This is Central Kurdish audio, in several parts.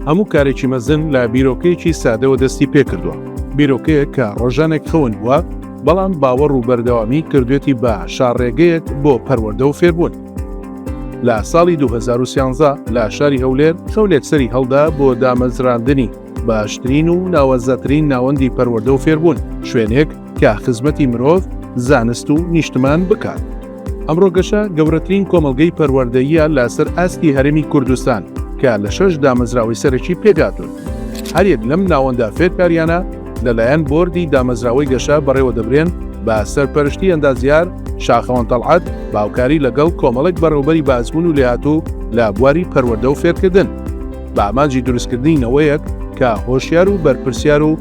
هەموو کارێکی مەزن لە بیرۆکەیەکی سادەوە دەستی پێکردووە بیرۆکەیە کە ڕۆژانێک خەون بووە بەڵام باوەڕ و بەردەوامی کردوێتی بە شارڕێگەیەک بۆ پەروەەردە و فێربوون لە ساڵی 2013 لە شاری هەولێر خەولێک سەری هەڵدا بۆ دامەزراندنی باشترین و ناوەزەترین ناوەندی پەروەردە و فێربوون شوێنێک کە خزمەتی مرۆڤ زانست و نیشتمان بکات ئەمڕۆ گەشە گەورەترین کۆمەلگەی پەروەردەیە لەسەر ئاستی هەرمی کوردستان کە لە شەش دامەزراوەی سەرەکی پێکاتون هەرێک لەم ناوەندا فێرکاریانە لەلایەن بردی دامەزراوەی گەشە بەڕێوە دەبرێن بە سەرپەرشتی ئەندازیار شاخەوان تەڵعات باوکاری لەگەڵ کۆمەڵێک بەڕێوبەری بازبوون و لێهاتوو لە بواری پەروەردە و فێرکردن بە ئامانجی دروستکردنی نەوەیەک کە هۆشیار و بەرپرسیار و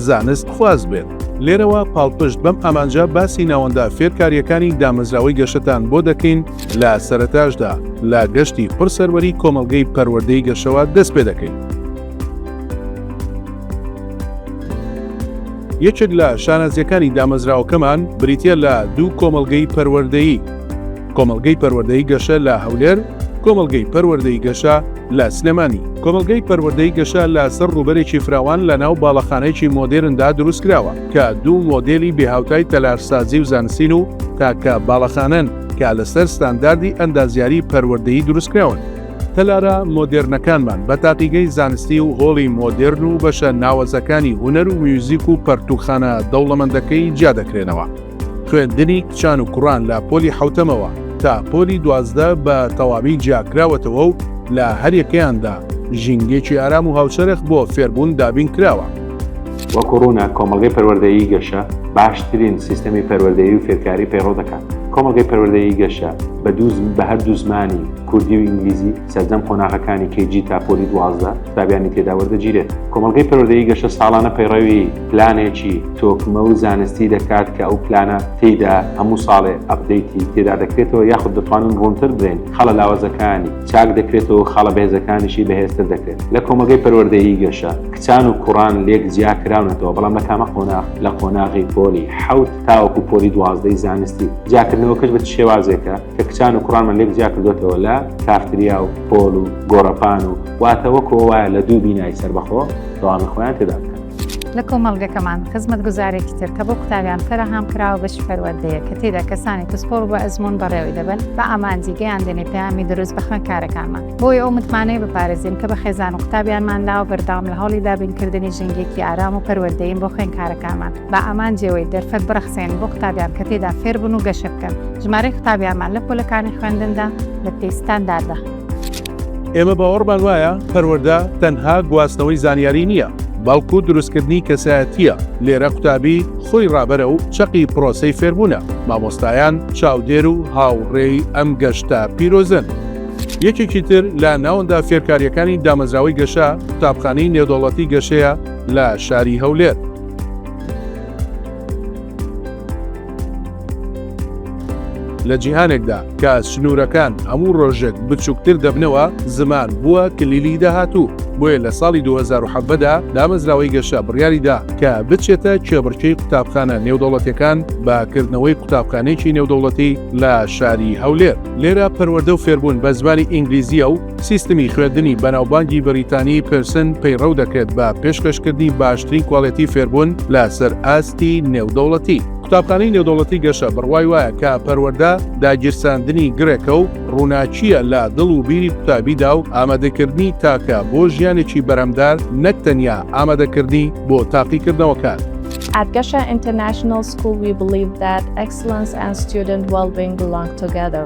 زانست خواز بێت. لێرەوە پاڵپشت بەم ئامانجە باسی ناوەندە فێرکارییەکانی دامەزراوەی گەشەتان بۆ دەکەین لە سەرەتاشدا لە گەشتی پڕ سەروەری کۆمەڵگەی پەروەردەی گەشەوە دەست پێ دەکەین. یەکێک لە شانازییەکانی دامەزراوەکەمان بریتییە لە دوو کۆمەڵگەی پەروەردەیی، کۆمەڵگەی پەروەردەی گەشە لە هەولێر، کۆمەڵگەی پەروەردەی گەشە لە سلێمانی، کۆمەڵگەی پەروەردەی گەشە لە سەر ڕووبەرێکی فراوان لە ناو باڵەخانەیەکی مۆدێرندا دروست کراوە کە دوو مۆدێلی بێ هاوتای تەلارسازی و زانستین و تاکە باڵەخانەن کە لەسەر ستانداردی ئەندازیاری پەروەردەیی دروست کراون. تەلارە مۆدێرنەکانمان بە تاقیگەی زانستی و هۆڵی مۆدێرن و بەشە ناوەزەکانی هونەر و میوزیک و پەرتووکخانە دەوڵەمەندەکەی جیا دەکرێنەوە. خوێندنی کچان و کوڕان لە پۆلی حەوتەمەوە تا پۆلی دوازدە بە تەواوی جیاکراوەتەوە و لە هەریەکەیاندا ژینگەیەکی ئارام و هاوچەرخ بۆ فێربوون دابین کراوە. وەکو ڕوونە کۆمەڵگەی پەروەردەیی گەشە باشترین سیستەمی پەروەردەیی و فێرکاری پەیڕەو دەکات. کۆمەڵگەی پەروەردەیی گەشە بە دوو زمان، بە هەردوو زمانی کوردی و ئینگلیزی، سەرجەم قۆناغەکانی KG تا پۆلی دوازدە قوتابیانی تێدا وەردەگیرێت. کۆمەڵگەی پەروەردەیی گەشە ساڵانە پەیڕەوی. پلانێکی تۆکمە و زانستی دەکات کە ئەو پلانە تێیدا هەموو ساڵێ ئەپدەیتی تێدا دەکرێتەوە یاخود دەتوانن ڕوونتر بڵێن خاڵە لاوازەکانی چاک دەکرێتەوە و خاڵە بەهێزەکانیشی بەهێزتر دەکرێت لە کۆمەڵگەی پەروەردەیی گەشە کچان و کوڕان لێک جیا کراونەتەوە بەڵام لە تامە قۆناغ لە قۆناغی پۆلی حەوت تاوەکو پۆلی دوازدەی زانستی جیاکردنەوەکەش بە شێوازێکە کە کچان و کوڕانمان لێک جیا کردوێتەوە لە کافتریا و پۆل و گۆڕەپان و واتەوەکەوە وایە لە دوو بینای سەربەخۆ دەوامی خۆیان تێدا بکەن لە کۆمەڵگەکەمان خزمەتگوزارێکی تر کە بۆ قوتابیان فەرەهام کراوە بەشی پەروەردەیە کە تێدا کەسانی پسپۆڕ بە ئەزموون بەڕێوەی دەبەن بە ئامانجی گەیان دێنێ پەیامی دروست بە خوێندکارەکانمان بۆی ئەو متمانەیە بپارێزین کە بە خێزان و قوتابیانمان لاوە بەردەوام لە هەوڵی دابینکردنی ژینگەیەکی ئارام و پەروەردەیین بۆ خوێندکارەکانمان بە ئامانجیەوەی دەرفەت بڕەخسێنین بۆ قوتابیان کە تێدا فێربن و گەشە بکەن ژمارەی قوتابیانمان لە پۆلەکانی خوێندندا لە پێی ستانداردە ئێمە باوەڕمان وایە پەروەردە تەنها گواستنەوەی زانیاری نییە، بەڵکو دروستکردنی کەسایەتییە، لێرە قوتابی خۆی ڕابەرە و چەقی پرۆسەی فێربوونە، مامۆستایان چاودێر و هاوڕێی ئەم گەشتە پیرۆزەن. یەکێکی تر لە ناوەندە فێرکارییەکانی دامەزراوەی گەشە، قوتابخانەی نێودەوڵەتی گەشەیە لە شاری هەولێر. لە جیهانێکدا کە سنوورەکان هەموو ڕۆژێک بچووکتر دەبنەوە زمان بووە کلیلی داهاتوو بۆیە لە ساڵی 2010دا دامەزراوەی گەشە بڕیاریدا کە بچێتە کێبڕکێی قوتابخانە نێودەوڵەتەکان بە کردنەوەی قوتابخانێکی نێودەوڵەتی لە شاری هەولێر لێرە پەروەردە و فێربوون بە زمانی ئینگلیزیە و سیستمی خوێندنی بەناوبانگی بەریتانی پرسن پەیڕەو دەکرێت بە پێشکەشکردنی باشترین کوالێتی فێربوون لەسەر ئاستی نێودەوڵەتی. قوتابخانەی نێودەوڵەتی گەشە بڕوای وایە کە پەروەردە داگیرساندنی گڕێکە و ڕووناکییە لە دڵ و بیری قوتابیدا و ئامادەکردنی تاکە بۆ ژیانێکی بەرهەمدار نەک تەنیا ئامادەکردنی بۆ تاقیکردنەوەکان. At Gesha International School, we believe that excellence and student well-being belong together.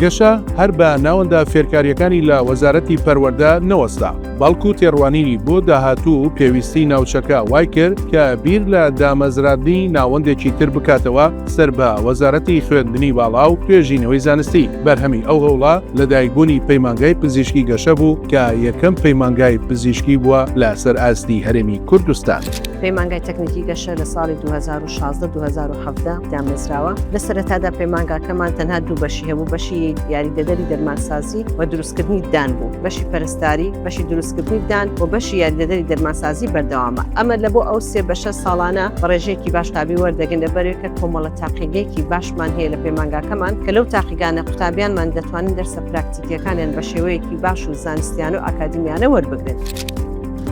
گەشە هەر بە ناوەندە فێرکارییەکانی لە وەزارەتی پەروەردە نەوەستا، بەڵکو تێڕوانینی بۆ داهاتوو و پێویستیی ناوچەکە وای کرد کە بیر لە دامەزراندنی ناوەندێکی تر بکاتەوە سەر بە وەزارەتی خوێندنی باڵا و توێژینەوەی زانستی. بەرهەمی ئەو هەوڵە لەدایکبوونی پەیمانگای پزیشکی گەشە بوو کە یەکەم پەیمانگای پزیشکی بووە لەسەر ئاستی هەرێمی کوردستان. پەیمانگای تەکنیکی گەشە لە ساڵی دوو هەزار و شازدە دوو هەزار و حەڤدە دامەزراوە لە سەرەتادا پەیمانگاکەمان تەنها دوو بەشی هەبوو بەشی یاریدەدەری دەرمانسازی و دروستکردنی دان بوو بەشی پەرستاری بەشی دروستکردنی دان و بەشی یاریدەدەری دەرمانسازی بەردەوامە ئەمە لە بۆ ئەو سێ بەشە ساڵانە بە ڕێژەیەکی باش تابی وەردەگەن لەبەرێک کە کۆمەڵە تاقیگەیەکی باشمان هەیە لە پەیمانگاکەمان کە لەو تاقیگانە قوتابیانمان دەتوانن دەرسە پراکتیکیەکانیان بە شێوەیەکی باش و زانستیان و ئاکادمیانە وەربگرن.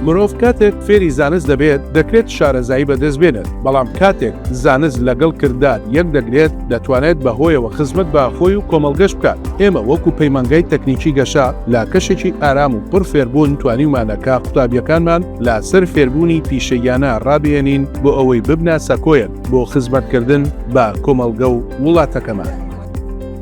مرۆڤ کاتێک فێری زانست دەبێت، دەکرێت شارەزایی بەدەست بێنێت، بەڵام کاتێک زانست لەگەڵ کردار یەک دەگرێت، دەتوانێت بە هۆیەوە خزمەت بە خۆی و کۆمەڵگەش بکات. ئێمە وەکو پەیمانگای تەکنیکی گەشە لە کەشێکی ئارام و پڕ فێربوون توانیومانە کە قوتابیەکانمان لە سەر فێربوونی پیشەییانە ڕابهێنین بۆ ئەوەی ببنە سەکۆیەک بۆ خزمەتکردن بە کۆمەڵگە و وڵاتەکەمان.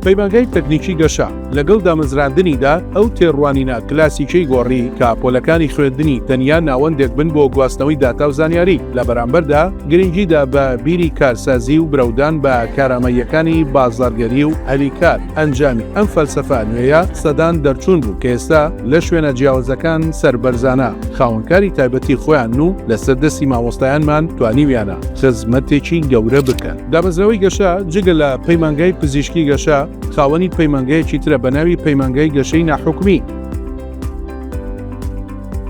پەیمانگای تەکنیکی گەشە لەگەڵ دامەزراندنیدا ئەو تێڕوانینە کلاسیکیەی گۆڕی کە پۆلەکانی خوێندنی تەنیا ناوەندێک بن بۆ گواستنەوەی داتا و زانیاری، لە بەرامبەردا گرنگی دا بە بیری کارسازی و برەودان بە کارامەییەکانی بازاڕگەری و هەلی کار، ئەنجامی ئەم فەلسەفە نوێیە سەدان دەرچوون بوو کە ئێستا لە شوێنە جیاوزەکان سەربەرزانە خاوەن کاری تایبەتی خۆیانن و لەسەر دەستی مامۆستایانمان توانیویانە خزمەتێکی گەورە بکەن. دامەزراوەی گەشە جگە لە پەیمانگای پزیشکی گەشە، خاوەنی پەیمانگایەکی ترە بە ناوی پەیمانگای گەشەی ناحکومی،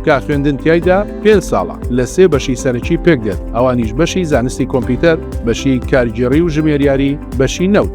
کە خوێندن تیایدا پێنج ساڵە، لە سێ بەشی سەرەکی پێک دێت، ئەوانیش بەشی زانستی کۆمپیوتەر، بەشی کارگێڕی و ژمێریاری، بەشی نەوت.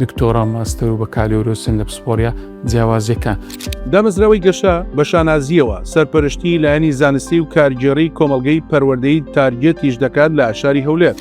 دکتۆرا و ماستەر و بەکالۆرۆسن لە پسپۆڕیە جیاوازیەکان. دامەزراوەی گەشە بە شانازییەوە سەرپەرشتیی لایەنی زانستی و کارگێڕیی کۆمەڵگەی پەروەردەی تارگێتیش دەکات لە شاری هەولێر.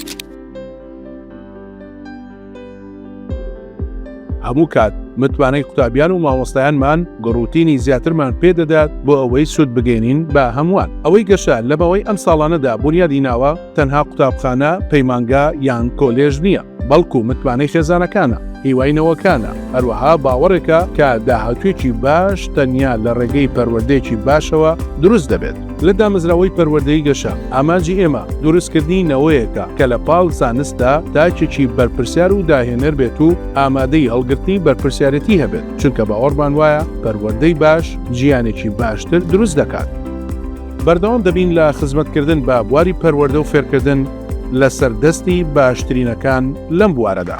هەموو کات متمانەی قوتابیان و مامۆستایانمان گڕوتینی زیاترمان پێ دەدات بۆ ئەوەی سوود بگەینین بە هەمووان. ئەوەی گەشە لە ماوەی ئەم ساڵانەدا بونیادی ناوە، تەنها قوتابخانە، پەیمانگا یان کۆلێژ نییە. بەڵکو متمانەی خێزانەکانە، هیوای نەوەکانە، هەروەها باوەڕێکە کە داهاتوویەکی باش تەنیا لە ڕێگەی پەروەردەیەکی باشەوە دروست دەبێت. لە دامەزراوەی پەروەردەی گەشە، ئامانجی ئێمە دروستکردنی نەوەیەکە کە لە پاڵ زانستدا تاکێکی بەرپرسیار و داهێنەر بێت و ئامادەی هەڵگرتنی بەرپرسیارێتی هەبێت، چونکە باوەڕمان وایە پەروەردەی باش جیانێکی باشتر دروست دەکات. بەردەوام دەبین لە خزمەتکردن بە بواری پەروەردە و فێرکردن، لەسەر دەستی باشترینەکان لەم بوارەدا.